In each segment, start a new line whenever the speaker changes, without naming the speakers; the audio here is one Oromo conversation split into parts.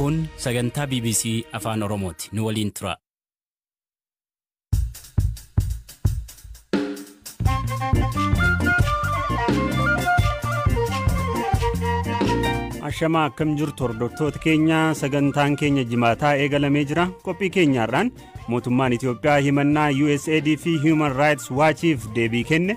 Kun sagantaa BBC Afaan Oromooti. Nu waliin tura. Ashamaa akkam jirtu hordoftoota keenya sagantaan keenya jimaataa eegalamee jira qophii keenyaarraan mootummaan Itoophiyaa himannaa USAID fi Human Rights Watchiif deebii kenne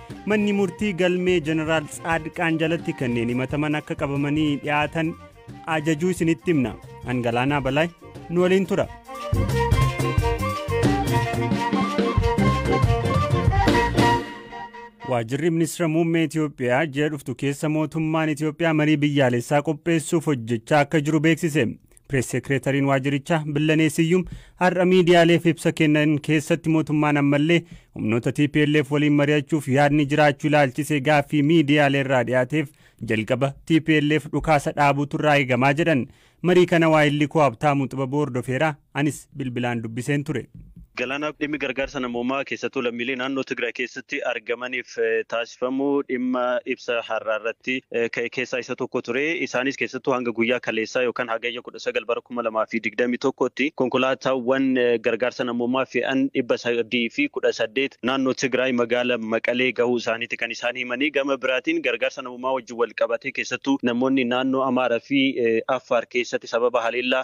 Manni murtii galmee Jeneraal Tsaadqaan jalatti kanneen himataman akka qabamanii dhiyaatan ajajuu isinitti himna. An Galaanaa Balaay nu waliin tura. Waajjirri Ministeera Muummee Itoophiyaa ji'a dhuftu keessa mootummaan Itoophiyaa marii biyyaalessaa qopheessuuf hojjechaa akka jiru beeksise. Pirees Seekreetariin waajirichaa Billanee Siyyum har'a miidiyaaleef ibsa kennan keessatti mootummaan ammallee humnoota TPLF waliin mari'achuuf yaadni jiraachuu ilaalchisee gaaffii miidiyaalee irraa dhiyaateef jalqaba TPLF dhukaasa dhaabuutu irraa eegamaa jedhan. Marii kana waayillikoo Habtaamuu Xibaboo hordofeera anis bilbilaan dubbiseen ture. Galaanaa, Dhimmi
gargaarsa namoomaa keessattuu lammiilee naannoo Tigraay keessatti argamaniif taasifamu dhimma ibsa har'aa irratti ka'e keessaa isa tokko ture. Isaanis keessattuu hanga guyyaa kaleessaa yookaan Hagayya 19 bara 2021tti konkolaataawwan gargaarsa namoomaa fe'an 318 naannoo Tigraay magaala Maqalee gahuu isaaniiti kan isaan himanii. Gama biraatiin gargaarsa namoomaa wajjin wal qabatee keessattuu namoonni naannoo Amaaraa fi Affaar keessatti sababa haleellaa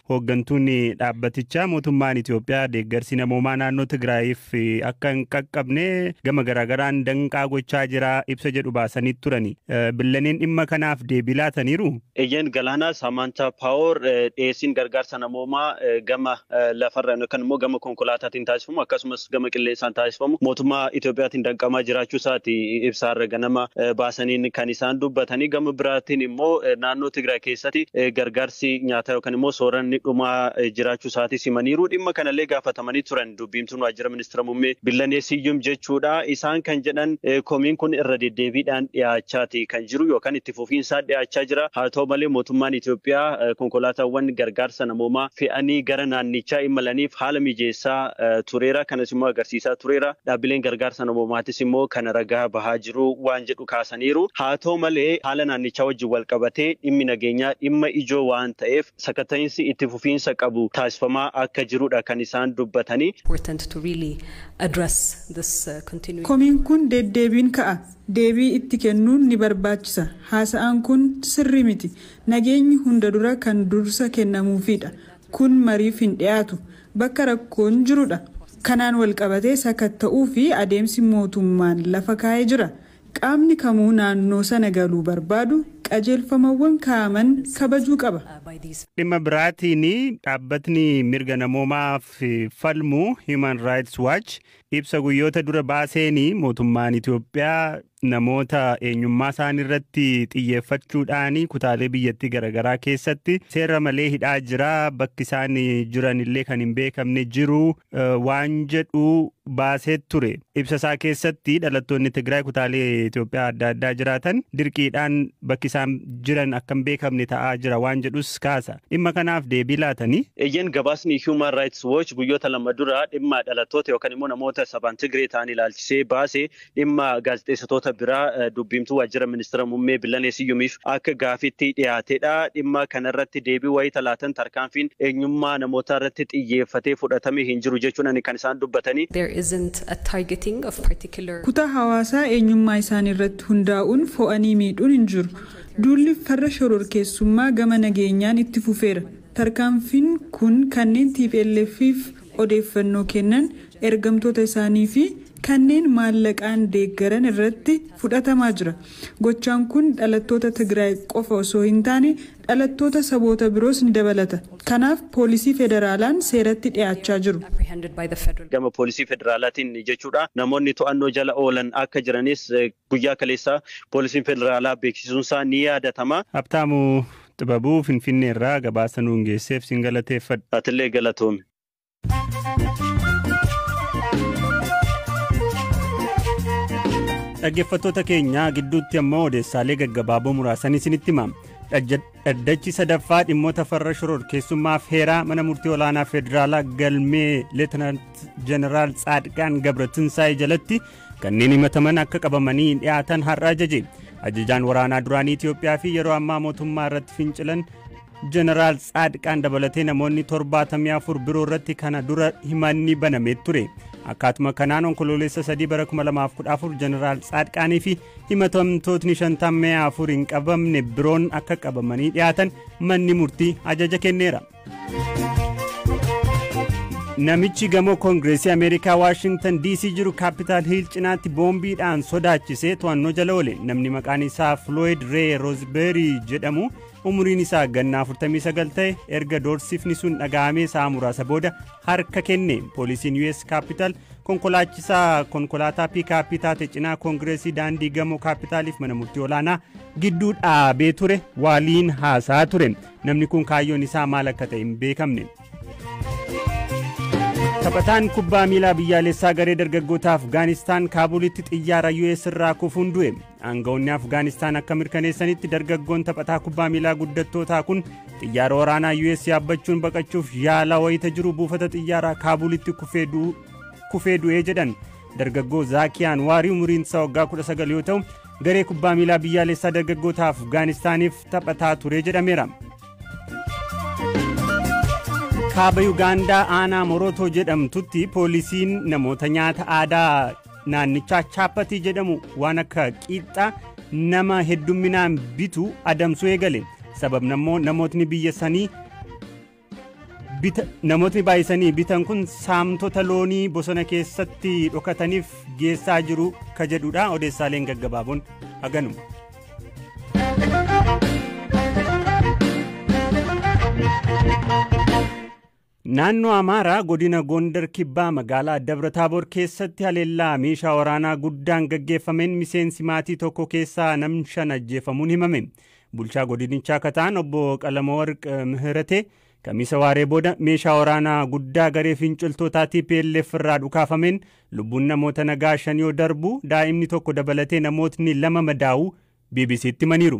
Hooggantuun dhaabbatichaa mootummaan Itoophiyaa deeggarsi namoomaa naannoo Tigraayiif akka hin qaqqabne gama garaagaraan danqaa gochaa jira ibsa jedhu baasanii turani. Billaneen dhimma kanaaf deebii laataniiru? Eeyyeen Galaanaa
Saamaantaa Paawoor dhiyeessiin gargaarsa namoomaa gama lafarraan yookaan immoo gama konkolaataatiin taasifamu akkasumas Itoophiyaatti gama qilleensaan taasifamu mootummaa Itoophiyaatiin danqamaa jiraachuu isaati ibsa har'a ganama baasaniin kan isaan dubbatanii gama biraatiin immoo naannoo Tigraay keessatti gargaarsi nyaataa yookaan immoo sooranni dhumaa jiraachuu isaati simaniiru. Dhimma kanallee gaafatamanii turan dubbiimtuun waajjira ministeera muummee Billanee Siyyum jechuudha. Isaan kan jedhan komiin kun irra deddeebiidhaan dhiyaachaati kan jiru yookaan itti itti fufiinsaan dhiyaachaa jira. Haa ta'u malee mootummaan Itoophiyaa konkolaataawwan gargaarsa namoomaa fe'anii gara naannichaa imalaniif haala mijeessaa tureera. Kanas immoo agarsiisaa tureera. Dhaabbileen gargaarsa namoomaatis immoo kana ragaa bahaa jiru waan jedhu kaasaniiru. Haa ta'u malee haala naannichaa wajjin walqabatee dhimmi nageenyaa dhimma ijoo waan ta'eef sakatta'iinsi itti fufiinsa qabu taasifamaa akka jirudha kan isaan dubbatanii.
Komiin kun deddeebiin ka'a. deebii itti kennuun ni barbaachisa. Haasa'aan kun sirrii miti. Nageenyi hunda dura kan dursa kennamuufiidha. Kun mariif hin dhiyaatu. Bakka rakkoon jirudha. Kanaan walqabatee sakatta'uu fi adeemsi mootummaan lafa kaa'e jira. Qaamni kamuu naannoo sana galuu barbaadu qajeelfamawwan kaa'aman kabajuu qaba. Dhimma
biraatiin dhaabbatni mirga namoomaaf falmu Human Rights Watch Ibsa guyyoota dura baaseeni mootummaan Itoophiyaa namoota eenyummaa isaanii irratti xiyyeeffachuudhaan kutaalee biyyattii garaagaraa keessatti seera malee hidhaa jira bakki isaan jiran illee kan hin beekamne jiru waan jedhu baasee ture. Ibsa isaa keessatti dhalattoonni Tigraay kutaalee Itoophiyaa adda addaa jiraatan dirqiidhaan bakki isaan jiran akka hin beekamne ta'aa jira waan jedhus kaasa. Dhimma kanaaf deebii laatanii? Eeyyeen gabaasni
Human Rights Watch guyyoota lama dura dhimma dhalattoota yookan immoo namoota sabaan Tigree ta'an ilaalchisee baase dhimma gaazexeessitoota biraa dubbiimtuu waajjira ministira mummee Billanee Siyyumiif akka gaafiitti dhiyaatedha. Dhimma kanarratti deebii wayita laatan tarkaanfiin eenyummaa namootaa irratti xiyyeeffatee fudhatame hin jiru jechuudhani kan isaan dubbatani. There isn't a targeting of particular.
Kutaa hawaasaa eenyummaa isaanii irratti. hundaa'uun fo'anii miidhuun hin jiru. Duulli farra shororkeessummaa gama nageenyaan itti fufeera. Tarkaanfiin kun kanneen TPLF'f odeeffannoo kennan, ergamtoota isaanii fi kanneen maallaqaan deeggaran irratti fudhatamaa jira. Gochaan kun dhalattoota Tigraay qofa osoo hin taane dhalattoota saboota biroos ni dabalata. Kanaaf poolisii federaalaan seeratti dhiyaachaa jiru. Gama
poolisii federaalaatiin jechuudha. Namoonni to'annoo jala oolan akka jiranis guyyaa kaleessaa poolisiin federaalaa beeksisuunsaa ni yaadatama. Habtaamu
Xibabuu Finfinneerraa gabaasa nuun geesseef sin galateeffadha. Atillee galatoomi. dhaggeeffattoota keenya gidduutti ammoo odeessaalee gaggabaaboo muraasan isinitti himna dhaddachi sadaffaa dhimmoota farra shororkeessummaaf heeraa mana murtii olaanaa federaalaa galmee leetinant jeneraal tsaadqaan gabratinsaa'e jalatti kanneen himataman akka qabamanii dhiyaatan har'a ajaje ajajaan waraanaa duraanii itiyoophiyaa fi yeroo ammaa mootummaa irratti fincilan Jeneraal Tsaadqaan dabalatee namoonni 74 biroo irratti kana dura himanni banamee ture. Akkaatuma kanaan onkoloolessa 3 bara 2014 Jeneraal Tsaadqaanii fi himatamtootni 54 hin qabamne biroon akka qabamanii dhiyaatan manni murtii ajaja kenneera. Namichi gamoo Koongireesii Ameerikaa Waashingtan DC jiru Kaapitaal Hiil cinaatti boombiidhaan sodaachisee to'annoo jala oole. Namni maqaan isaa Floyd Ray Roosbeerii jedhamu umuriin isaa ganna 49 ta'e erga doorsifni sun dhaga'amee sa'a muraasa booda harka kenne poolisiin us kaappitaal konkolaachisaa konkolaataa piikaappii taate cinaa koongireesii daandii gamoo kaappitaaliif mana murtii olaanaa gidduu dhaabee ture waaliin haasaa ture namni kun kaayyoon isaa maal akka ta'e hin beekamne. taphataan kubbaa miilaa biyyaalessaa garee dargaggoota afgaanistaan kaabulitti xiyyaara us irraa kufuun du'e Aangawoonni Afgaanistaan akka mirkaneessanitti dargaggoon taphataa kubbaa miilaa guddattootaa kun xiyyaara waraanaa US yaabbachuun baqachuuf yaalaa wayita jiru buufata xiyyaaraa Kaabulitti kufee du'ee jedhan. Dargaggoo Zaakiyaan Waarii umuriin isaa waggaa 19 yoo ta'u garee kubbaa miilaa biyyaalessaa dargaggoota Afgaanistaaniif taphataa ture jedhameera. Kaaba Yugaandaa aanaa Morotoo jedhamtutti poolisiin namoota nyaata aadaa naannichaa chaappatii jedhamu waan akka qiixxaa nama heddumminaan bitu adamsuu eegale sababni ammoo namootni biyya sanii namootni baay'isanii bitan kun saamtota loonii bosona keessatti dhokataniif geessaa jiru ka jedhudha odeessaaleen gaggabaaboon haganuma. Naannoo Amaaraa godina Gondar Kibbaa magaalaa Dabra Taaboor keessatti haleellaa meeshaa waraanaa guddaan gaggeeffameen miseensi maatii tokko keessaa nam shan ajjeefamuun himame. Bulchaa godinichaa ka ta'an obbo Qalamawarq Mihiratee Kamiisa waaree booda meeshaa waraanaa guddaa garee finciltootaa TPLF irraa dhukaafameen lubbuun namoota nagaa shan yoo darbu daa'imni tokko dabalatee namootni lama madaa'uu BBC'tti himaniiru.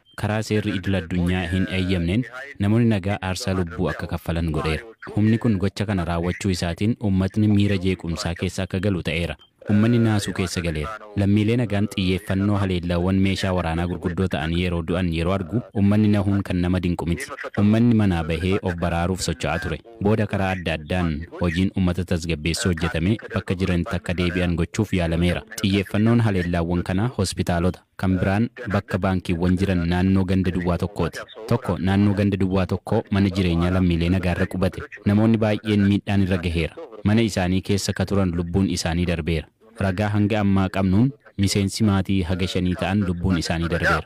karaa seerri idil addunyaa hin eeyyamneen namoonni nagaa aarsaa lubbuu akka kaffalan godheera. Humni kun gocha kana raawwachuu isaatiin uummatni miira jeequmsaa keessa akka galu ta'eera. Uummanni naasuu keessa galeera. Lammiilee nagaan xiyyeeffannoo haleellaawwan meeshaa waraanaa gurguddoo ta'anii yeroo du'an yeroo argu uummanni nahuun kan nama dinqu miti. Uummanni manaa bahee of baraaruuf socho'aa ture. Booda karaa adda addaan hojiin uummata tasgabbeessuu hojjetamee bakka jiranitti akka deebi'an gochuuf yaalameera. Xiyyeeffannoon haleellaawwan kanaa hospitaalota. Kan biraan bakka baankiiwwan jiran naannoo ganda duwwaa tokkooti. Tokko naannoo ganda duwwaa tokkoo mana jireenyaa lammiilee nagaarra qubate. Namoonni baay'een miidhaan irra gaheera. Mana isaanii keessa ka turan lubbuun isaanii darbeera. Ragaa hanga ammaa qabnuun miseensi maatii haga shanii ta'an lubbuun isaanii darbeera.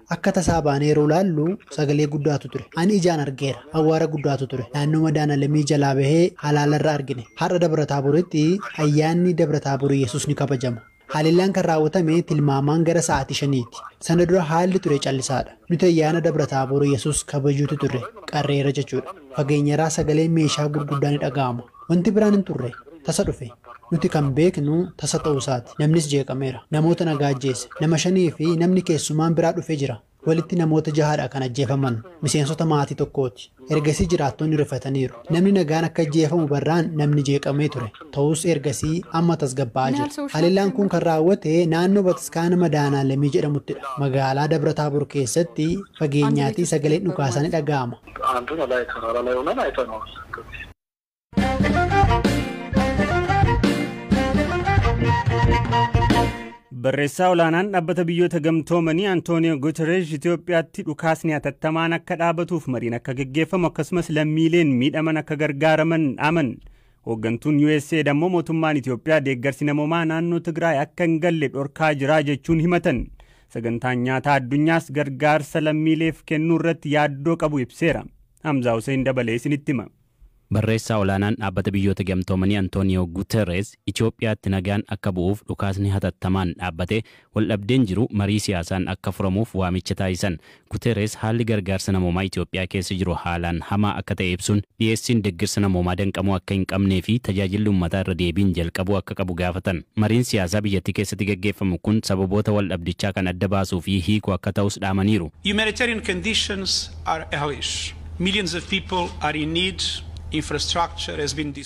Akka tasaa baanee yeroo ilaallu sagalee guddaatu ture. Ani ijaan argeera. Awwaara guddaatu ture. Naannoo Madaanalemii jalaa bahee halaala irra argine. Har'a Dabra Taaboritti Ayyaanni Dabra Taabor Iyyasuus ni kabajama. Haleellaan kan raawwatame tilmaamaan gara sa'aatii shaniiti. Sana dura haalli ture callisaadha. Nuti Ayyaana Dabra Taabor Iyyasuus kabajuutti turre. Qarreerra jechuudha. Fageenyarraa sagaleen meeshaa gurguddaa ni dhaga'ama. Wanti biraan hin turre. Tasa dhufe. Nuti kan beeknu tasa ta'uu isaati. Namnis jeeqameera. Namoota nagaa ajjeese. Nama shanii fi namni keessumaan biraa dhufe jira. Walitti namoota jaha dha kan ajjeefaman. Miseensota maatii tokkooti. Ergasii jiraattonni rifataniiru. Namni nagaan akka ajjeefamu barraan namni jeeqamee ture. Ta'us ergasii amma tasgabbaa'aa jira. Haleellaan kun kan raawwate naannoo bataskaana Madaanaalamii jedhamutti dha. Magaalaa Dabra Taabor keessatti fageenyaatii sagaleen dhukaasaa ni dhaga'ama.
Barreessaa olaanaan dhaabbata biyyoota gamtoomanii Antooniyoo Guterres Itoophiyaatti dhukaasni hatattamaan akka dhaabatuuf mariin akka geggeeffamu akkasumas lammiileen miidhaman akka gargaaraman dhaaman. Hooggantuun USAID ammoo mootummaan Itoophiyaa deeggarsi namoomaa naannoo Tigraay akka hin galle dhorkaa jiraa jechuun himatan. Sagantaan nyaataa addunyaas gargaarsa lammiileef kennuu irratti yaaddoo qabu ibseera. Hamzaa Huseen dabalee isinitti hima. Barreessaa olaanaan
Dhaabbata Biyyoota Gamtoomanii Antooniyoo Guuterreez Itoophiyaatti nagaan akka bu'uuf dhukaasni hatattamaan dhaabbatee waldhabdeen jiru marii siyaasaan akka furamuuf waamicha taasisan. Guuterreez haalli gargaarsa namoomaa Itoophiyaa keessa jiru haalaan hamaa akka ta'e ibsuun, dhiyeessiin deggersa namoomaa danqamuu akka hin qabnee fi tajaajilli ummataa irra deebiin jalqabuu akka qabu gaafatan. Mariin siyaasaa biyyattii keessatti gaggeeffamu kun sababoota waldhabdichaa kan adda baasuu fi hiiku akka ta'us dhaamaniiru. Humanitarian conditions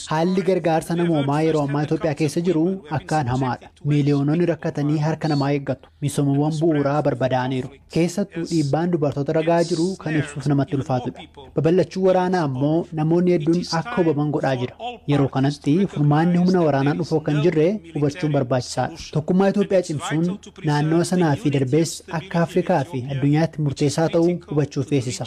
Haalli gargaarsa namoomaa yeroo ammaa Itoophiyaa keessa jiru akkaan hamaadha. Miiliyoononni rakkatanii harka namaa eeggatu. Misoomawwan bu'uuraa barbadaa'aniiru. Keessattuu dhiibbaan dubartoota irra gahaa jiru kan ibsuuf namatti ulfaatudha. Babal'achuun waraanaa ammoo namoonni hedduun akka hubaman godhaa jira. Yeroo kanatti furmaanni humna waraanaan dhufu akka hin jirre hubachuun barbaachisaadha. Tokkummaa Itoophiyaa cimsuun naannawa sanaa fi darbees akka Afrikaa fi addunyaatti murteessaa ta'uu hubachuu feesisa.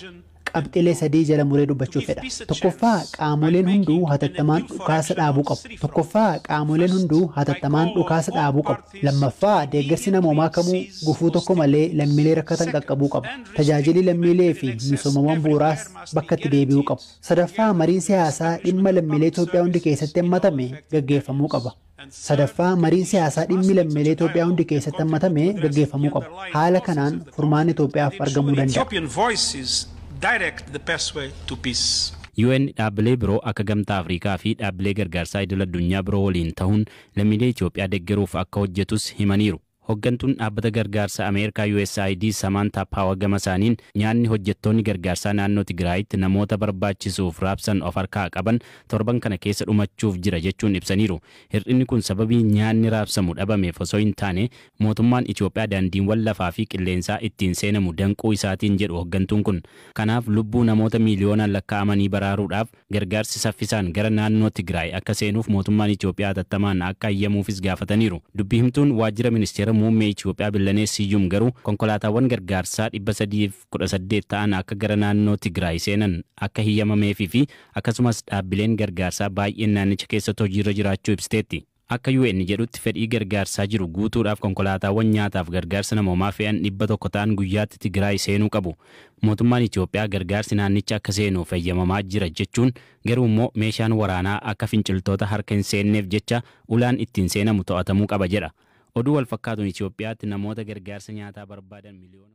Qabxilee sadii jala muree dubbachuu fedha. Tokkoffaa qaamoleen hunduu hatattamaan dhukaasa dhaabuu qabu. Tokkoffaa qaamoleen hunduu hatattamaan dhukaasa dhaabuu qabu. Lammaffaa deeggarsi namoomaa kamuu gufuu tokko malee lammiilee rakkatan qaqqabuu qaba. Tajaajilii lammiilee fi misoomawwan bu'uuraas bakka itti deebi'uu qabu. Sadaffaa mariin siyaasaa dhimma lammiilee Itoophiyaa hundi keessatti hammatame gaggeeffamuu qaba. Sadaffaa, mariin siyaasaa dhimmi lammiilee Itoophiyaa hundi keessatti hammatame gaggeeffamuu qaba. Haala kanaan furmaanni Itoophiyaaf argamuu danda'a.
UN dhaabbilee
biroo akka Gamtaa Afrikaa fi dhaabbilee gargaarsaa idil-addunyaa biroo waliin tahuun lammiilee Itoophiyaa deggeruuf akka hojjetus himaniiru. Hoggantuun Dhaabbata Gargaarsa Ameerikaa USAID Samaantaa Paawa gamasaaniin, nyaanni hojjettoonni gargaarsaa naannoo Tigraayitti namoota barbaachisuuf raabsan of harkaa qaban torban kana keessa dhumachuuf jira jechuun ibsaniiru. Hir'inni kun sababii nyaanni raabsamu dhabameef osoo hin taane mootummaan Itoophiyaa daandiinwan lafaa fi qilleensaa ittiin seenamu danquu isaatiin jedhu hoggantuun kun. Kanaaf lubbuu namoota miiliyoonaan lakkaa'amanii baraaruudhaaf Gargaarsi saffisaan gara naannoo Tigraay akka seenuuf mootummaan Itiyoophiyaa hatattamaan akka hayyamuufis gaafataniiru. Dubbi himtuun waajjira ministeera muummee Itiyoophiyaa Billanee Siyyum garuu konkolaataawwan gargaarsaa 318 ta'an akka gara naannoo Tigraay seenan akka hiyyamameefiifi akkasumas dhaabbileen gargaarsaa baay'een naannicha keessatti hojiirra jiraachuu ibsiteetti. Akka UN jedhutti fedhii gargaarsaa jiru guutuudhaaf konkolaataawwan nyaataaf gargaarsa namoomaa fe'an 100 ta'an guyyaatti Tigiraay seenuu qabu. Mootummaan Itoophiyaa gargaarsi naannicha akka seenuuf heyyamamaa jira jechuun garuu immoo meeshaan waraanaa akka finciltoota harka hin seenneef jecha ulaan ittiin seenamu to'atamuu qaba jedha. Oduu walfakkaatuun Itoophiyaatti namoota gargaarsa nyaataa barbaadan miliyoona.